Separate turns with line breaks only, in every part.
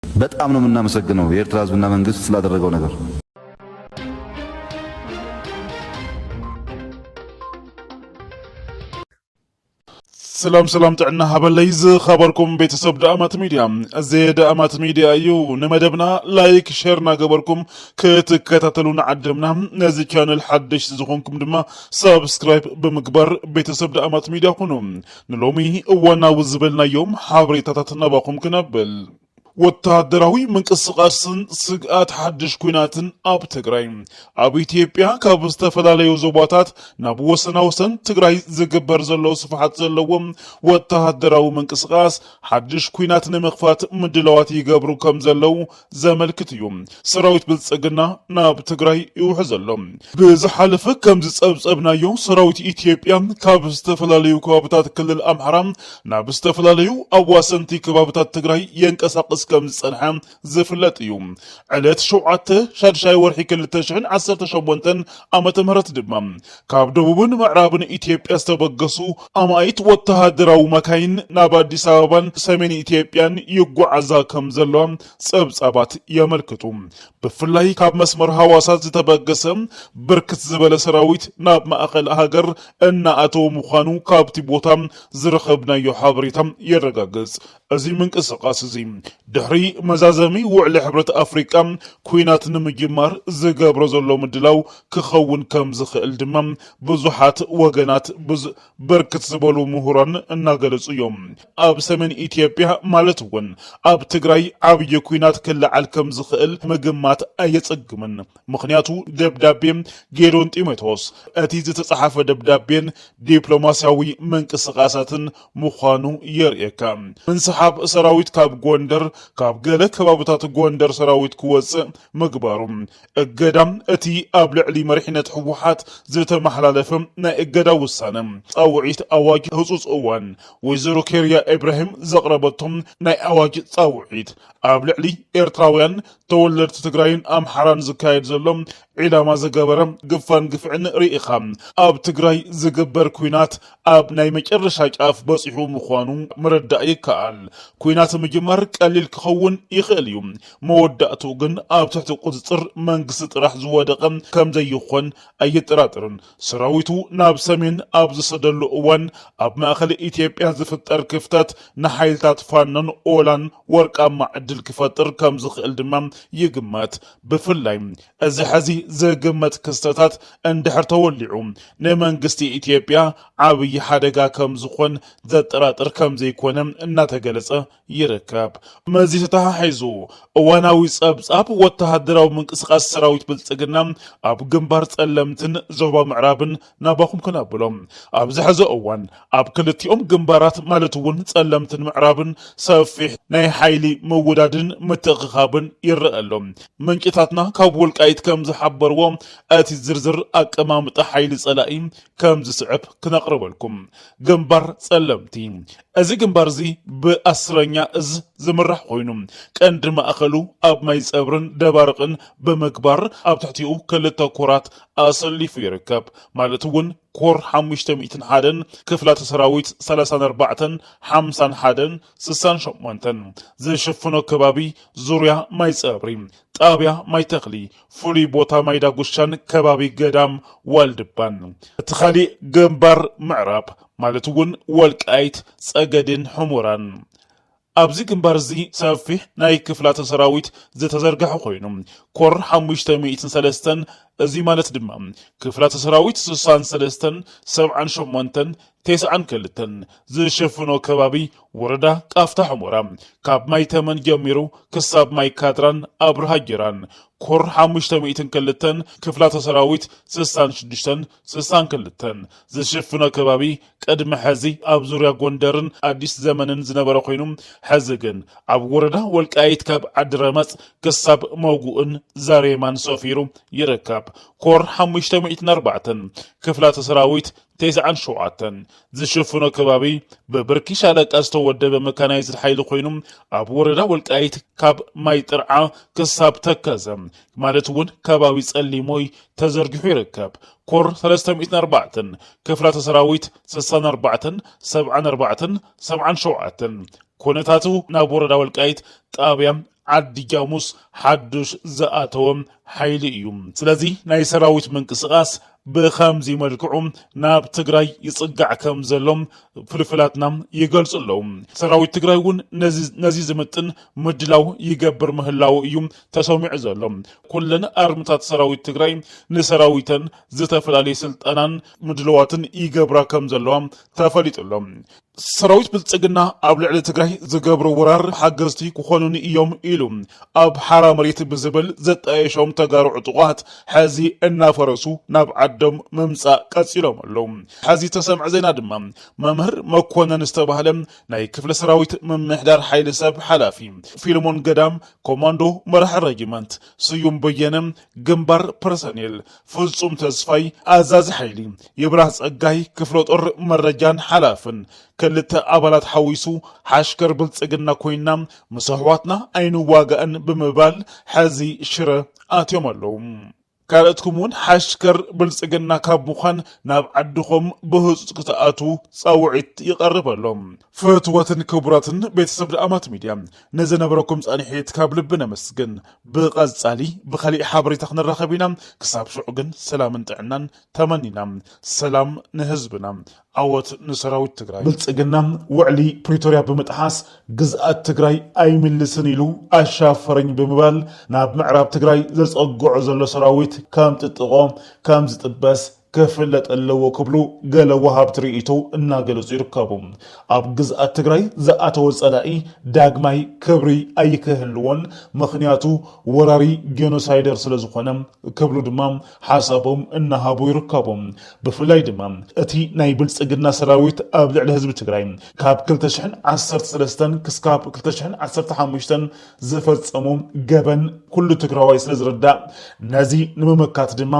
በጣም ነው ምናመሰግነው የኤርትራ ህዝብና መንግስት ስላደረገው ነገር።
ሰላም ሰላም ጥዕና ሃበለይ ዝኸበርኩም ቤተሰብ ደኣማት ሚድያ እዚ ደኣማት ሚድያ እዩ ንመደብና ላይክ ሸር እናገበርኩም ክትከታተሉ ንዓድምና ነዚ ቻነል ሓደሽቲ ዝኾንኩም ድማ ሰብስክራይብ ብምግባር ቤተሰብ ደኣማት ሚድያ ኩኑ ንሎሚ እዋናዊ ዝበልናዮም ሓበሬታታት ናባኹም ክነብል፣ ወተሃደራዊ ምንቅስቓስን ስግኣት ሓድሽ ኲናትን ኣብ ትግራይ፣ ኣብ ኢትዮጵያ ካብ ዝተፈላለዩ ዞባታት ናብ ወሰናወሰን ትግራይ ዝግበር ዘሎ ስፍሓት ዘለዎ ወተሃደራዊ ምንቅስቓስ ሓድሽ ኲናት ንምኽፋት ምድላዋት ይገብሩ ከምዘለዉ ዘመልክት እዩ ሰራዊት ብልፅግና ናብ ትግራይ ይውሑ ዘሎ ብዝሓለፈ ከም ዝፀብፀብናዮ ሰራዊት ኢትዮጵያ ካብ ዝተፈላለዩ ከባብታት ክልል ኣምሓራ ናብ ዝተፈላለዩ ኣዋሰንቲ ከባብታት ትግራይ የንቀሳቅስ ከም ዝፀንሐ ዝፍለጥ እዩ ዕለት ሸውዓተ ሻድሻይ ወርሒ ክልተ ሽሕን ዓሰርተ ሸሞንተን ዓመተ ምህረት ድማ ካብ ደቡብን ምዕራብን ኢትዮጵያ ዝተበገሱ ኣማኢት ወተሃደራዊ መካይን ናብ ኣዲስ ኣበባን ሰሜን ኢትዮጵያን ይጓዓዛ ከም ዘለዋ ጸብጻባት የመልክቱ። ብፍላይ ካብ መስመር ሃዋሳ ዝተበገሰ ብርክት ዝበለ ሰራዊት ናብ ማእኸል ሃገር እናኣተወ ምዃኑ ካብቲ ቦታ ዝረኸብናዮ ሓበሬታ የረጋግጽ። እዚ ምንቅስቓስ እዚ ድሕሪ መዛዘሚ ውዕሊ ሕብረት ኣፍሪቃ ኩናት ንምጅማር ዝገብሮ ዘሎ ምድላው ክኸውን ከም ዝኽእል ድማ ብዙሓት ወገናት ብርክት ዝበሉ ምሁራን እናገለጹ እዮም። ኣብ ሰሜን ኢትዮጵያ ማለት እውን ኣብ ትግራይ ዓብዪ ኩናት ክለዓል ከም ዝኽእል ምግማት ኣየጸግምን። ምኽንያቱ ደብዳቤ ጌዶን ጢሞቴዎስ፣ እቲ ዝተጸሓፈ ደብዳቤን ዲፕሎማስያዊ ምንቅስቓሳትን ምዃኑ የርእየካ። ምንስሓብ ሰራዊት ካብ ጎንደር ካብ ገለ ከባብታት ጎንደር ሰራዊት ክወጽእ ምግባሩ፣ እገዳ እቲ ኣብ ልዕሊ መሪሕነት ህወሓት ዝተመሓላለፈ ናይ እገዳ ውሳነ፣ ጻውዒት ኣዋጅ ህጹጽ እዋን ወይዘሮ ኬርያ ኤብራሂም ዘቕረበቶ ናይ ኣዋጅ ጻውዒት ኣብ ልዕሊ ኤርትራውያን ተወለድቲ ትግራይን ኣምሓራን ዝካየድ ዘሎ ዒላማ ዝገበረ ግፋን ግፍዕን ርኢኻ ኣብ ትግራይ ዝግበር ኲናት ኣብ ናይ መጨረሻ ጫፍ በፂሑ ምዃኑ ምርዳእ ይከኣል። ኲናት ምጅማር ቀሊል ክኸውን ይኽእል እዩ፣ መወዳእትኡ ግን ኣብ ትሕቲ ቁፅፅር መንግስቲ ጥራሕ ዝወደቐ ከምዘይኾን ኣየጠራጥርን። ሰራዊቱ ናብ ሰሜን ኣብ ዝሰደሉ እዋን ኣብ ማእኸል ኢትዮጵያ ዝፍጠር ክፍተት ንሓይልታት ፋኖን ኦላን ወርቃማ ዕድል ክፈጥር ከም ዝኽእል ድማ ይግመት። ብፍላይ እዚ ሕዚ ዝግመት ክስተታት እንድሕር ተወሊዑ ንመንግስቲ ኢትዮጵያ ዓብዪ ሓደጋ ከም ዝኾን ዘጠራጥር ከም ዘይኮነ እናተገለፀ ይርከብ። ምስዚ ተተሓሒዙ እዋናዊ ፀብፃብ ወተሃደራዊ ምንቅስቓስ ሰራዊት ብልፅግና ኣብ ግንባር ፀለምትን ዞባ ምዕራብን ናባኹም ክነብሎ ኣብዚ ሕዚ እዋን ኣብ ክልቲኦም ግንባራት ማለት እውን ፀለምትን ምዕራብን ሰፊሕ ናይ ሓይሊ ምውዳድን ምትእኽኻብን ይረኣ ኣሎ። ምንጭታትና ካብ ወልቃይት ከምዝሓበርዎ እቲ ዝርዝር ኣቀማምጣ ሓይሊ ፀላኢ ከምዝስዕብ ክነቕርበልኩም። ግንባር ፀለምቲ እዚ ግንባር እዚ ብኣስረኛ እዝ ዝምራሕ ኮይኑ ቀንዲ ማእኸሉ ኣብ ማይፀብርን ደባርቕን ብምግባር ኣብ ትሕቲኡ ክልተ ኮራት ኣሰሊፉ ይርከብ ማለት እውን ኮር ሓሙሽተ ሚእትን ሓደን ክፍላተ ሰራዊት ሰላሳን ኣርባዕተን ሓምሳን ሓደን ስሳን ሸሞንተን ዝሽፍኖ ከባቢ ዙርያ ማይ ፀብሪ ጣብያ ማይ ተኽሊ ፍሉይ ቦታ ማይ ዳጉሻን ከባቢ ገዳም ዋልድባን እቲ ካሊእ ግንባር ምዕራብ ማለት እውን ወልቃይት ፀገዴን ሑሞራን ኣብዚ ግንባር እዚ ሰፊሕ ናይ ክፍላተ ሰራዊት ዝተዘርገሐ ኮይኑ፣ ኮር ሓሙሽተ ሚእትን ሰለስተን፣ እዚ ማለት ድማ ክፍላተ ሰራዊት ስሳን ሰለስተን፣ ሰብዓን ሸሞንተን፣ ቴስዓን ክልተን፣ ዝሽፍኖ ከባቢ ወረዳ ቃፍታ ሑሞራ፣ ካብ ማይ ተመን ጀሚሩ ክሳብ ማይ ካድራን ኣብርሃ ጌራን፣ ኮር ሓሙሽተ ሚእትን ክልተን፣ ክፍላተ ሰራዊት ስሳን ሽዱሽተን፣ ስሳን ክልተን ዝሽፍኖ ከባቢ ቅድሚ ሐዚ ኣብ ዙርያ ጎንደርን ኣዲስ ዘመንን ዝነበረ ኮይኑ ሐዚ ግን ኣብ ወረዳ ወልቃይት ካብ ዓዲ ረመፅ ክሳብ መጉእን ዛሬማን ሰፊሩ ይርከብ። ኮር ሓሙሽተ ሚእትን ኣርባዕተን ክፍላተ ሰራዊት ቴስዓን ሸውዓተን ዝሽፍኖ ከባቢ ብብርኪ ሻለቃ ዝተወደበ መካናይዝድ ሓይሊ ኮይኑ ኣብ ወረዳ ወልቃይት ካብ ማይ ጥርዓ ክሳብ ተከዘ ማለት እውን ከባቢ ጸሊሞይ ተዘርጊሑ ይርከብ። ኮር ሰለስተ ሚእትን ኣርባዕተን፣ ክፍላተ ሰራዊት ስሳን ኣርባዕተን፣ ሰብዓን ኣርባዕተን፣ ሰብዓን ሸውዓተን፣ ኩነታቱ ናብ ወረዳ ወልቃይት ጣብያ ዓዲ ጃሙስ ሓዱሽ ዝኣተወ ሓይሊ እዩ። ስለዚ ናይ ሰራዊት ምንቅስቓስ ብኸምዚ መልክዑ ናብ ትግራይ ይፅጋዕ ከም ዘሎ ፍልፍላትና ይገልፁ ኣለዉ። ሰራዊት ትግራይ እውን ነዚ ዝምጥን ምድላው ይገብር ምህላዉ እዩ ተሰሚዑ ዘሎ። ኩለን ኣርምታት ሰራዊት ትግራይ ንሰራዊተን ዝተፈላለየ ስልጠናን ምድልዋትን ይገብራ ከም ዘለዋ ተፈሊጡ ኣሎ። ሰራዊት ብልፅግና ኣብ ልዕሊ ትግራይ ዝገብሮ ወራር ሓገዝቲ ክኾኑኒ እዮም ኢሉ ኣብ ሓራ መሬት ብዝብል ዘጣየሾም ተጋሩ ዕጡቋት ሐዚ እናፈረሱ ናብ ዓዶም ምምፃእ ቀፂሎም ኣለዉ። ሐዚ ተሰምዐ ዜና ድማ መምህር መኮነን ዝተባህለ ናይ ክፍለ ሰራዊት ምምሕዳር ሓይሊ ሰብ ሓላፊ፣ ፊልሞን ገዳም፣ ኮማንዶ መራሒ ረጅመንት ስዩም በየነ ግንባር ፐርሰኔል ፍጹም ተስፋይ ኣዛዚ ሓይሊ፣ ይብራህ ጸጋይ ክፍለጦር መረጃን ሓላፍን፣ ክልተ ኣባላት ሓዊሱ ሓሽከር ብልጽግና ኮይና ምስ ኣሕዋትና ኣይንዋጋእን ብምባል ሕዚ ሽረ ኣትዮም ኣለዉ። ካልኦትኩም እውን ሓሽከር ብልጽግና ካብ ምዃን ናብ ዓድኹም ብህጹጽ ክትኣትዉ ጻውዒት ይቐርብ ኣሎ። ፍትወትን ክቡራትን ቤተሰብ ደኣማት ሚድያ ንዝነበረኩም ጻንሒት ካብ ልቢ ነመስግን። ብቀጻሊ ብካሊእ ሓበሬታ ክንራከብ ኢና ክሳብ ሽዑ ግን ሰላምን ጥዕናን ተመኒና ሰላም ንህዝብና ዓወት ንሰራዊት ትግራይ። ብልፅግና ውዕሊ ፕሪቶርያ ብምጥሓስ ግዝኣት ትግራይ ኣይምልስን ኢሉ ኣሻፈረኝ ብምባል ናብ ምዕራብ ትግራይ ዘፀግዖ ዘሎ ሰራዊት ከምጥጥቖ ከምዝጥበስ ክፍለጥ ኣለዎ ክብሉ ገለ ወሃብቲ ርኢቶ እናገለፁ ይርከቡ። ኣብ ግዝኣት ትግራይ ዝኣተወ ፀላኢ ዳግማይ ክብሪ ኣይክህልዎን ምኽንያቱ ወራሪ ጀኖሳይደር ስለዝኾነ ክብሉ ድማ ሓሳቦም እናሃቡ ይርከቡ። ብፍላይ ድማ እቲ ናይ ብልፅግና ሰራዊት ኣብ ልዕሊ ህዝቢ ትግራይ ካብ ክልተ ሽሕን ዓሰርተ ሰለስተን ክስካብ ክልተ ሽሕን ዓሰርተ ሓሙሽተን ዝፈፀሞ ገበን ኩሉ ትግራዋይ ስለዝርዳእ ነዚ ንምምካት ድማ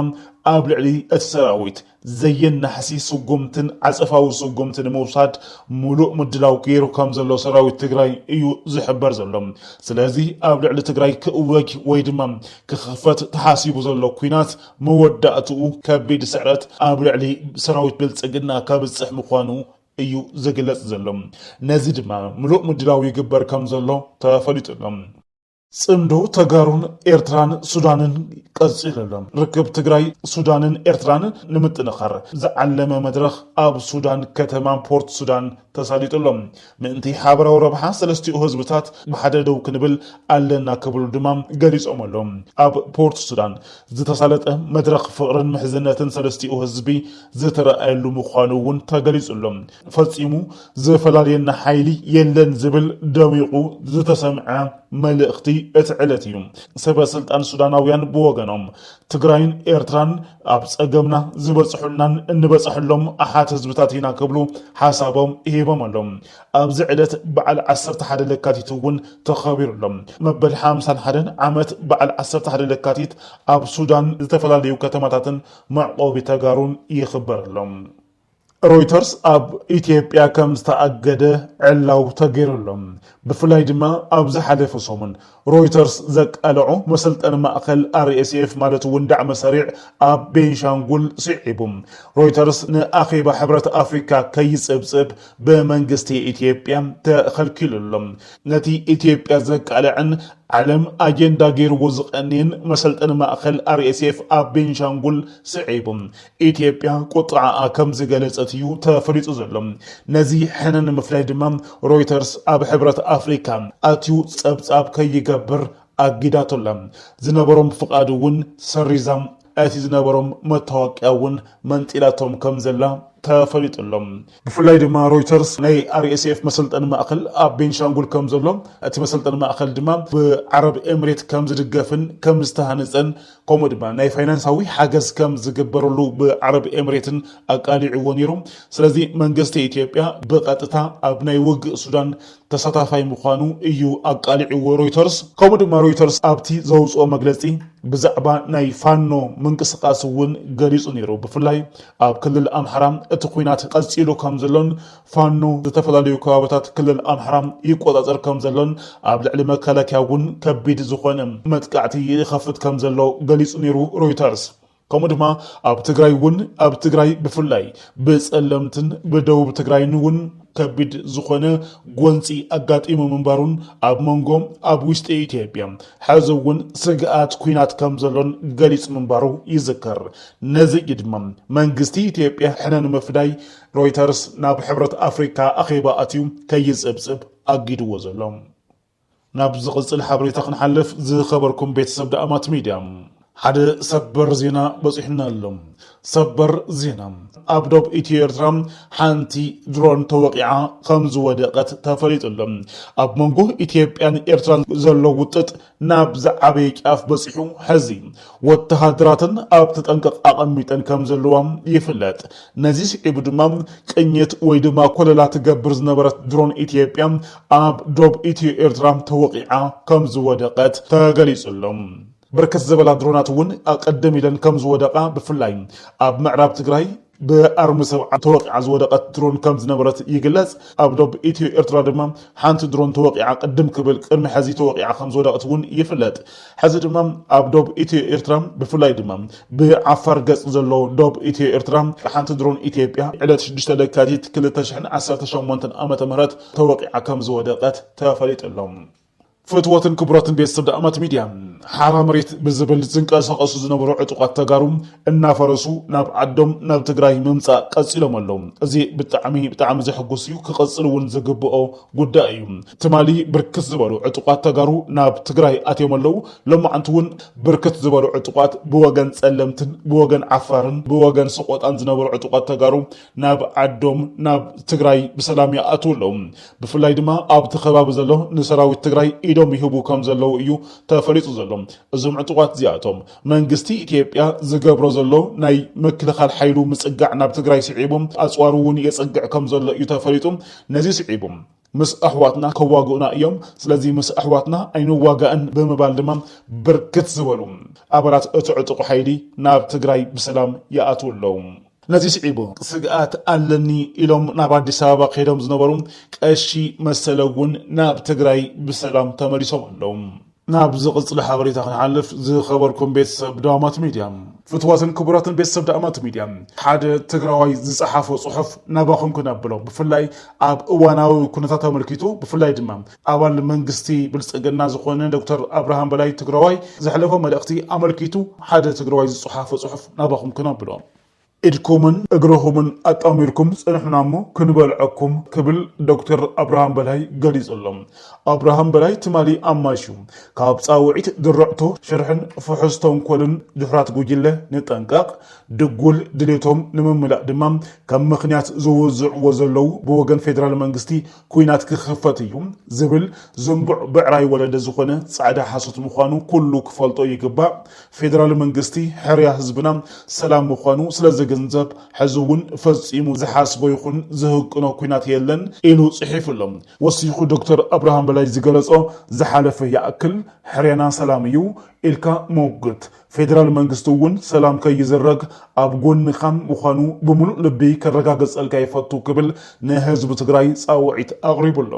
ኣብ ልዕሊ እቲ ሰራዊት ዘየናሕሲ ስጉምትን ዓጸፋዊ ስጉምቲ ንምውሳድ ሙሉእ ምድላው ገይሩ ከምዘሎ ሰራዊት ትግራይ እዩ ዝሕበር ዘሎ። ስለዚ ኣብ ልዕሊ ትግራይ ክእወጅ ወይ ድማ ክኽፈት ተሓሲቡ ዘሎ ኲናት መወዳእትኡ ከቢድ ስዕረት ኣብ ልዕሊ ሰራዊት ብልጽግና ከብጽሕ ምዃኑ እዩ ዝግለጽ ዘሎ። ነዚ ድማ ምሉእ ምድላው ይግበር ከምዘሎ ተፈሊጡ ኣሎ። ፅምዶ ተጋሩን ኤርትራን ሱዳንን ቀፂሉ ኣሎ። ርክብ ትግራይ፣ ሱዳንን ኤርትራን ንምጥንኻር ዝዓለመ መድረኽ ኣብ ሱዳን ከተማ ፖርት ሱዳን ተሳሊጡ ኣሎ። ምእንቲ ሓበራዊ ረብሓ ሰለስቲኡ ህዝብታት ብሓደ ደው ክንብል ኣለና ክብሉ ድማ ገሊፆም ኣለው። ኣብ ፖርት ሱዳን ዝተሳለጠ መድረኽ ፍቕርን ምሕዝነትን ሰለስቲኡ ህዝቢ ዝተረኣየሉ ምዃኑ እውን ተገሊፁ ኣሎ። ፈፂሙ ዝፈላልየና ሓይሊ የለን ዝብል ደሚቑ ዝተሰምዐ መልእኽቲ እቲ ዕለት እዩ። ሰበ ስልጣን ሱዳናውያን ብወገኖም ትግራይን ኤርትራን ኣብ ፀገምና ዝበፅሑልናን እንበፀሐሎም ኣሓት ህዝብታት ኢና ክብሉ ሓሳቦም ሂቦም ኣሎም። ኣብዚ ዕለት በዓል ዓሰርተ ሓደ ለካቲት እውን ተኸቢሩ ኣሎ። መበል ሓምሳን ሓደን ዓመት በዓል ዓሰርተ ሓደ ለካቲት ኣብ ሱዳን ዝተፈላለዩ ከተማታትን መዕቆቢ ተጋሩን ይኽበር ኣሎ። ሮይተርስ ኣብ ኢትዮጵያ ከም ዝተኣገደ ዕላው ተገይሩ ኣሎ። ብፍላይ ድማ ኣብ ዝሓለፈ ሰሙን ሮይተርስ ዘቃለዖ መሰልጠኒ ማእኸል RSF ማለት እውን ዳዕመ-ሰሪዕ ኣብ ቤንሻንጉል ስዒቡ ሮይተርስ ንኣኼባ ሕብረት ኣፍሪካ ከይፅብፅብ ብመንግስቲ ኢትዮጵያ ተኸልኪሉ ኣሎ። ነቲ ኢትዮጵያ ዘቃልዐን ዓለም ኣጀንዳ ገይርዎ ዝቐንየን መሰልጠኒ ማእኸል RSF ኣብ ቤንሻንጉል ስዒቡ ኢትዮጵያ ቁጥዐኣ ከም ዝገለጸት እዩ ተፈሊጡ ዘሎ። ነዚ ሕነ ንምፍላይ ድማ ሮይተርስ ኣብ ሕብረት ኣፍሪካ ኣትዩ ጸብጻብ ከይገብር ኣጊዳቶ ኣላ። ዝነበሮም ፍቓድ እውን ሰሪዛ እቲ ዝነበሮም መታወቅያ እውን መንጢላቶም ከም ዘላ ተፈሊጡ ኣሎ። ብፍላይ ድማ ሮይተርስ ናይ RSF መሰልጠኒ ማእከል ኣብ ቤንሻንጉል ከም ዘሎን እቲ መሰልጠኒ ማእከል ድማ ብዓረብ ኤምሬት ከም ዝድገፍን ከም ዝተሃነጸን ከምኡ ድማ ናይ ፋይናንሳዊ ሓገዝ ከም ዝግበረሉ ብዓረብ ኤምሬትን ኣቃሊዕዎ ነይሩ። ስለዚ መንግስቲ ኢትዮጵያ ብቐጥታ ኣብ ናይ ውግእ ሱዳን ተሳታፋይ ምዃኑ እዩ ኣቃሊዕዎ ሮይተርስ። ከምኡ ድማ ሮይተርስ ኣብቲ ዘውጽኦ መግለጺ ብዛዕባ ናይ ፋኖ ምንቅስቓስ እውን ገሊጹ ነይሩ። ብፍላይ ኣብ ክልል ኣምሓራ እቲ ኲናት ቀፂሉ ከምዘሎን ፋኖ ዝተፈላለዩ ከባቢታት ክልል ኣምሓራ ይቆፃፀር ከምዘሎን ኣብ ልዕሊ መከላከያ እውን ከቢድ ዝኾነ መጥቃዕቲ ይኸፍት ከምዘሎ ገሊፁ ነይሩ ሮይተርስ። ከምኡ ድማ ኣብ ትግራይ እውን ኣብ ትግራይ ብፍላይ ብፀለምትን ብደቡብ ትግራይን እውን ከቢድ ዝኾነ ጎንፂ ኣጋጢሙ ምንባሩን ኣብ መንጎ ኣብ ውሽጢ ኢትዮጵያ ሕዚ እውን ስግኣት ኲናት ከምዘሎን ገሊፁ ምንባሩ ይዝከር። ነዚ እዩ ድማ መንግስቲ ኢትዮጵያ ሕነ ንምፍዳይ ሮይተርስ ናብ ሕብረት ኣፍሪካ ኣኼባ ኣትዩ ከይፅብፅብ ኣጊድዎ ዘሎ። ናብ ዝቕፅል ሓበሬታ ክንሓልፍ ዝኸበርኩም ቤተሰብ ዳእማት ሚድያ ሓደ ሰበር ዜና በፂሑና ኣሎ። ሰበር ዜና ኣብ ዶብ ኢትዮ ኤርትራ ሓንቲ ድሮን ተወቂዓ ከም ዝወደቐት ተፈሊጡ ኣሎ። ኣብ መንጎ ኢትዮጵያን ኤርትራን ዘሎ ውጥጥ ናብ ዝዓበየ ጫፍ በፂሑ ሐዚ ወተሃደራተን ኣብ ተጠንቀቕ ኣቐሚጠን ከም ዘለዋ ይፍለጥ። ነዚ ስዒቡ ድማ ቅኝት ወይ ድማ ኮለላ ትገብር ዝነበረት ድሮን ኢትዮጵያ ኣብ ዶብ ኢትዮ ኤርትራ ተወቒዓ ከም ዝወደቐት ተገሊፁ ኣሎ። ብርክት ዝበላ ድሮናት እውን ቐደም ኢለን ከም ዝወደቓ ብፍላይ ኣብ ምዕራብ ትግራይ ብኣርሚ ሰብዓ ተወቒዓ ዝወደቐት ድሮን ከም ዝነበረት ይግለጽ። ኣብ ዶብ ኢትዮ ኤርትራ ድማ ሓንቲ ድሮን ተወቒዓ ቅድም ክብል ቅድሚ ሕዚ ተወቒዓ ከም ዝወደቕት እውን ይፍለጥ። ሕዚ ድማ ኣብ ዶብ ኢትዮ ኤርትራ ብፍላይ ድማ ብዓፋር ገጽ ዘሎ ዶብ ኢትዮ ኤርትራ ሓንቲ ድሮን ኢትዮጵያ ዕለት ሽዱሽተ ለካቲት ክልተ ሽሕን ዓሰርተ ሸሞንተን ዓመተ ምህረት ተወቒዓ ከም ዝወደቐት ተፈሊጡ ኣሎ። ፍትወትን ክቡራትን ቤተሰብ ዳእማት ሚድያ ሓራ መሬት ብዝብል ዝንቀሳቀሱ ዝነበሩ ዕጡቃት ተጋሩ እናፈረሱ ናብ ዓዶም ናብ ትግራይ ምምፃእ ቀፂሎም ኣለው እዚ ብጣዕሚ ብጣዕሚ ዘሕጉስ እዩ ክቅፅል እውን ዝግብኦ ጉዳይ እዩ ትማሊ ብርክት ዝበሉ ዕጡቃት ተጋሩ ናብ ትግራይ ኣትዮም ኣለው ሎማዓንቲ እውን ብርክት ዝበሉ ዕጡቃት ብወገን ፀለምትን ብወገን ዓፋርን ብወገን ሰቆጣን ዝነበሩ ዕጡቃት ተጋሩ ናብ ዓዶም ናብ ትግራይ ብሰላም ይኣትው ኣለዉ። ብፍላይ ድማ ኣብቲ ከባቢ ዘሎ ንሰራዊት ትግራይ ኢዶም ይህቡ ከም ዘለዉ እዩ ተፈሊጡ ዘሎ። እዞም ዕጡቓት እዚኣቶም መንግስቲ ኢትዮጵያ ዝገብሮ ዘሎ ናይ ምክልኻል ሓይሉ ምፅጋዕ ናብ ትግራይ ስዒቡ ኣፅዋሩ እውን የፅግዕ ከም ዘሎ እዩ ተፈሊጡ። ነዚ ስዒቡ። ምስ ኣሕዋትና ከዋግኡና እዮም፣ ስለዚ ምስ ኣሕዋትና ኣይንዋጋእን ብምባል ድማ ብርክት ዝበሉ ኣባላት እቲ ዕጡቕ ሓይሊ ናብ ትግራይ ብሰላም ይኣትዉ ኣለዉ። ነዚ ስዒቡ ስግኣት ኣለኒ ኢሎም ናብ ኣዲስ ኣበባ ከይዶም ዝነበሩ ቀሺ መሰለ እውን ናብ ትግራይ ብሰላም ተመሊሶም ኣለዉ። ናብ ዝቕፅል ሓበሬታ ክንሓልፍ ዝኸበርኩም ቤተሰብ ዳእማት ሚድያ ፍትዋትን ክቡራትን ቤተሰብ ዳእማት ሚድያ ሓደ ትግራዋይ ዝፀሓፎ ፅሑፍ ናባኹም ክነብሎ ብፍላይ ኣብ እዋናዊ ኩነታት ኣመልኪቱ ብፍላይ ድማ ኣባል መንግስቲ ብልፅግና ዝኾነ ዶክተር ኣብርሃም በላይ ትግራዋይ ዘሕለፎ መልእኽቲ ኣመልኪቱ ሓደ ትግራዋይ ዝፀሓፎ ፅሑፍ ናባኹም ክነብሎ ኢድኩምን እግርኹምን ኣጣሚርኩም ጽንሑና እሞ ክንበልዐኩም ክብል ዶክተር ኣብርሃም በላይ ገሊጹ ኣሎ። ኣብርሃም በላይ ትማሊ ኣማሽዩ ካብ ጻውዒት ድርዕቶ ሽርሕን ፍሑስ ተንኮልን ድሑራት ጉጅለ ንጠንቀቕ፣ ድጉል ድሌቶም ንምምላእ ድማ ከም ምኽንያት ዝውዝዕዎ ዘለዉ ብወገን ፌደራል መንግስቲ ኲናት ክኽፈት እዩ ዝብል ዝንቡዕ ብዕራይ ወለደ ዝኾነ ጻዕዳ ሓሶት ምዃኑ ኩሉ ክፈልጦ ይግባእ። ፌደራል መንግስቲ ሕርያ ህዝብና ሰላም ምዃኑ ስለ ዝግንዘብ ሕዚ እውን ፈጺሙ ዝሓስቦ ይኹን ዝህቅኖ ኲናት የለን ኢሉ ጽሒፉ ኣሎ። ወሲኹ ዶክተር ኣብርሃም በላይ ዝገለጾ ዝሓለፈ ይኣክል፣ ሕርያና ሰላም እዩ ኢልካ ምውግት፣ ፌደራል መንግስቲ እውን ሰላም ከይዝረግ ኣብ ጎንኻ ምዃኑ ብምሉእ ልቢ ከረጋግፀልካ ይፈቱ ክብል ንህዝቢ ትግራይ ፃውዒት ኣቕሪቡ ኣሎ።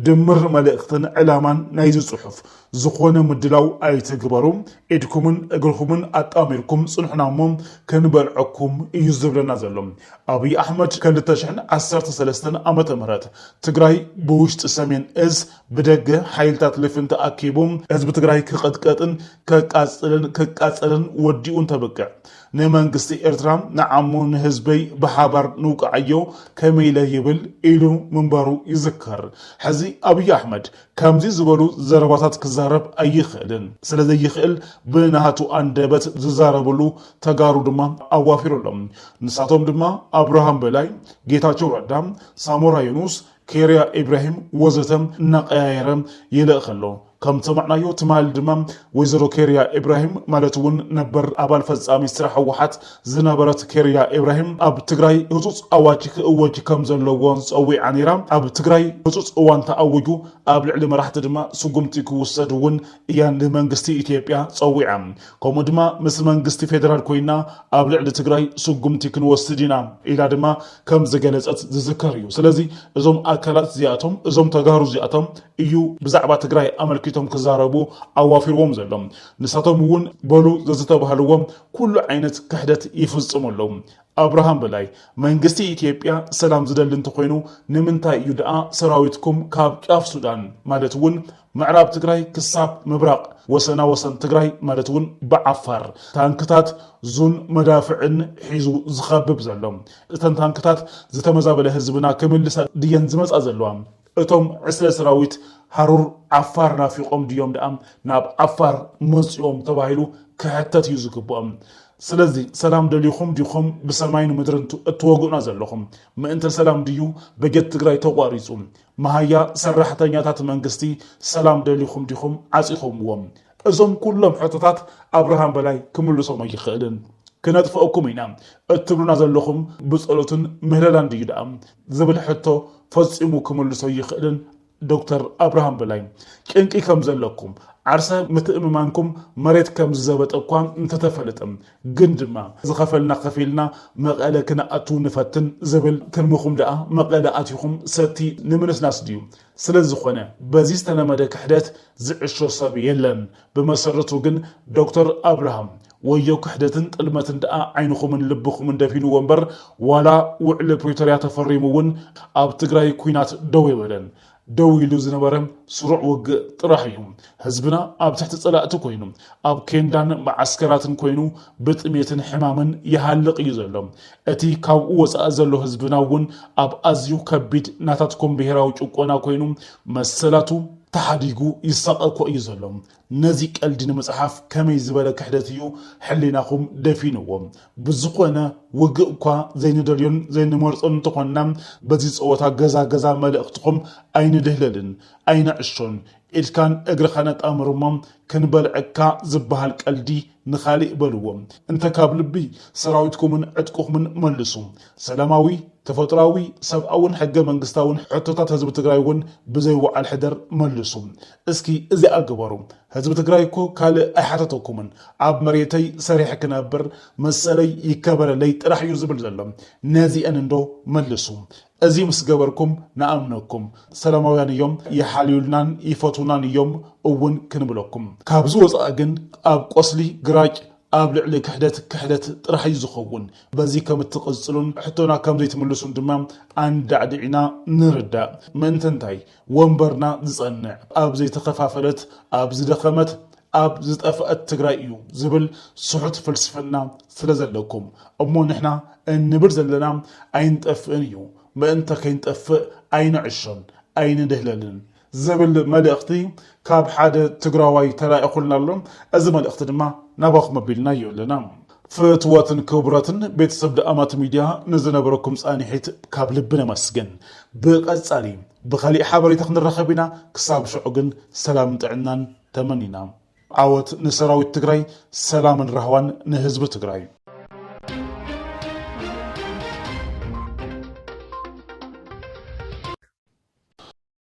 ድምር መልእኽትን ዕላማን ናይዚ ፅሑፍ፣ ዝኾነ ምድላው ኣይትግበሩ፣ ኢድኩምን እግርኹምን ኣጣሚርኩም ፅንሑና እሞ ክንበልዐኩም እዩ ዝብለና ዘሎ። ኣብይ ኣሕመድ ከልተ ሽሕን ዓሰርተ ሰለስተን ዓመተ ምህረት ትግራይ ብውሽጢ ሰሜን እዝ ብደገ ሓይልታት ልፍንቲ ኣኪቡ ህዝቢ ትግራይ ክቕጥቀጥን ከቃፅልን ክቃፀልን ወዲኡ እንተብቅዕ ንመንግስቲ ኤርትራ ንዓሙ ንህዝበይ ብሓባር ንውቃዓዮ ከመይ ኢለ ይብል ኢሉ ምንባሩ ይዝከር። ሕዚ ኣብይ ኣሕመድ ከምዚ ዝበሉ ዘረባታት ክዛረብ ኣይኽእልን። ስለዘይኽእል ብናቱ ኣንደበት ዝዛረብሉ ተጋሩ ድማ ኣዋፊሩ ኣሎ። ንሳቶም ድማ ኣብርሃም በላይ፣ ጌታቸው ረዳ፣ ሳሞራ ዩኑስ፣ ኬርያ ኢብራሂም ወዘተ እናቐያየረ ይልእኽ ኣሎ። ከም ዝሰማዕናዮ ትማል ድማ ወይዘሮ ኬርያ ኢብራሂም ማለት እውን ነበር ኣባል ፈፃሚ ስራሕ ህወሓት ዝነበረት ኬርያ ኢብራሂም ኣብ ትግራይ ህፁፅ ኣዋጅ ክእወጅ ከም ዘለዎ ፀዊዓ ነይራ። ኣብ ትግራይ ህፁፅ እዋን ተኣዊጁ ኣብ ልዕሊ መራሕቲ ድማ ስጉምቲ ክውሰድ እውን እያ ንመንግስቲ ኢትዮጵያ ፀዊዓ። ከምኡ ድማ ምስ መንግስቲ ፌደራል ኮይና ኣብ ልዕሊ ትግራይ ስጉምቲ ክንወስድ ኢና ኢላ ድማ ከም ዝገለፀት ዝዝከር እዩ። ስለዚ እዞም ኣካላት እዚኣቶም እዞም ተጋሩ እዚኣቶም እዩ ብዛዕባ ትግራይ ኣመልኪቶም ክዛረቡ ኣዋፊርዎም ዘሎ። ንሳቶም እውን በሉ ዘዝተባህልዎም ኩሉ ዓይነት ክሕደት ይፍፅሙ ኣለዉ። ኣብርሃም በላይ መንግስቲ ኢትዮጵያ ሰላም ዝደሊ እንተኾይኑ ንምንታይ እዩ ድኣ ሰራዊትኩም ካብ ጫፍ ሱዳን ማለት እውን ምዕራብ ትግራይ ክሳብ ምብራቕ ወሰና ወሰን ትግራይ ማለት እውን ብዓፋር ታንክታት ዙን መዳፍዕን ሒዙ ዝኸብብ ዘሎ። እተን ታንክታት ዝተመዛበለ ህዝብና ክምልሳ ድየን ዝመፃ ዘለዋ? እቶም ዕስለ ሰራዊት ሃሩር ዓፋር ናፊቖም ድዮም ደኣ ናብ ዓፋር መፂኦም ተባሂሉ ክሕተት እዩ ዝግበኦም። ስለዚ ሰላም ደሊኹም ዲኹም ብሰማይን ምድርን እትወግኡና ዘለኹም? ምእንተ ሰላም ድዩ በጀት ትግራይ ተቋሪፁ? መሃያ ሰራሕተኛታት መንግስቲ ሰላም ደሊኹም ዲኹም ዓጺኹምዎም? እዞም ኩሎም ሕቶታት ኣብርሃም በላይ ክምልሶም ኣይኽእልን። ክነጥፍኣኩም ኢና እትብሉና ዘለኹም ብጸሎትን ምህለላን ድዩ ደኣ? ዝብል ሕቶ ፈጺሙ ክምልሶ ኣይኽእልን ዶክተር ኣብርሃም በላይ። ጭንቂ ከም ዘለኩም፣ ዓርሰ ምትእምማንኩም መሬት ከም ዝዘበጠ እኳ እንተተፈለጠ፣ ግን ድማ ዝኸፈልና ከፊልና መቐለ ክንኣቱ ንፈትን ዝብል ትልምኹም ደኣ መቐለ ኣቲኹም ሰቲ ንምንስናስ ድዩ? ስለዝኾነ በዚ ዝተለመደ ክሕደት ዝዕሾ ሰብ የለን። ብመሰረቱ ግን ዶክተር ኣብርሃም ወዮ ክሕደትን ጥልመትን ደኣ ዓይንኹምን ልብኹምን ደፊንዎ እምበር ዋላ ውዕሊ ፕሪቶርያ ተፈሪሙ እውን ኣብ ትግራይ ኲናት ደው የበለን። ደው ኢሉ ዝነበረ ስሩዕ ውግእ ጥራሕ እዩ። ህዝብና ኣብ ትሕቲ ፀላእቲ ኮይኑ፣ ኣብ ኬንዳን መዓስከራትን ኮይኑ ብጥሜትን ሕማምን ይሃልቕ እዩ ዘሎ። እቲ ካብኡ ወፃኢ ዘሎ ህዝብና እውን ኣብ ኣዝዩ ከቢድ ናታትኩም ብሄራዊ ጭቆና ኮይኑ መሰላቱ ተሓዲጉ ይሳቐ እኮ እዩ ዘሎ። ነዚ ቀልዲ ንምጽሓፍ ከመይ ዝበለ ክሕደት እዩ ሕሊናኹም ደፊንዎ። ብዝኾነ ውግእ'ኳ ዘይንደልዮን ዘይንመርጾን እንተኾንና በዚ ጸወታ ገዛ ገዛ መልእኽትኹም ኣይንድህለልን ኣይንዕሾን ኢድካን እግርኻን ኣጣምር እሞ ክንበልዐካ ዝበሃል ቀልዲ ንኻሊእ በልዎ እንተ ካብ ልቢ ሰራዊትኩምን ዕጥቅኹምን መልሱ ሰላማዊ ተፈጥሮኣዊ ሰብኣውን ሕገ መንግስታውን ሕቶታት ህዝቢ ትግራይ እውን ብዘይ ውዓል ሕደር መልሱ እስኪ እዚኣ ግበሩ ህዝቢ ትግራይ እኮ ካልእ ኣይሓተተኩምን ኣብ መሬተይ ሰሪሐ ክነብር መሰለይ ይከበረለይ ጥራሕ እዩ ዝብል ዘሎ ነዚኤን እንዶ መልሱ እዚ ምስ ገበርኩም ንኣምነኩም ሰላማውያን እዮም ይሓልዩልናን ይፈትውናን እዮም እውን ክንብለኩም ካብዚ ወፃኢ ግን ኣብ ቆስሊ ግራጭ ኣብ ልዕሊ ክሕደት ክሕደት ጥራሕ እዩ ዝኸውን በዚ ከም እትቕፅሉን ሕቶና ከም ዘይትምልሱን ድማ ኣንዳዕዲዕና ንርዳእ ምእንቲ እንታይ ወንበርና ዝፀንዕ ኣብ ዘይተኸፋፈለት፣ ኣብ ዝደኸመት፣ ኣብ ዝጠፈእት ትግራይ እዩ ዝብል ስሑት ፍልስፍና ስለዘለኩም እሞ ንሕና እንብል ዘለና ኣይንጠፍእን እዩ ምእንተ ከይንጠፍእ ኣይንዕሾን ኣይንድህለልን ዝብል መልእኽቲ ካብ ሓደ ትግራዋይ ተላኢኹልና ኣሎ እዚ መልእኽቲ ድማ ናባኹም ኣቢልናዮ ኣለና። ፍትወትን ክቡረትን ቤተሰብ ደኣማት ሚድያ ንዝነበረኩም ፃኒሒት ካብ ልቢ ነመስግን ብቀፃሊ ብካሊእ ሓበሬታ ክንራከብ ኢና ክሳብ ሽዑ ግን ሰላምን ጥዕናን ተመኒና ዓወት ንሰራዊት ትግራይ ሰላምን ራህዋን ንህዝቢ ትግራይ።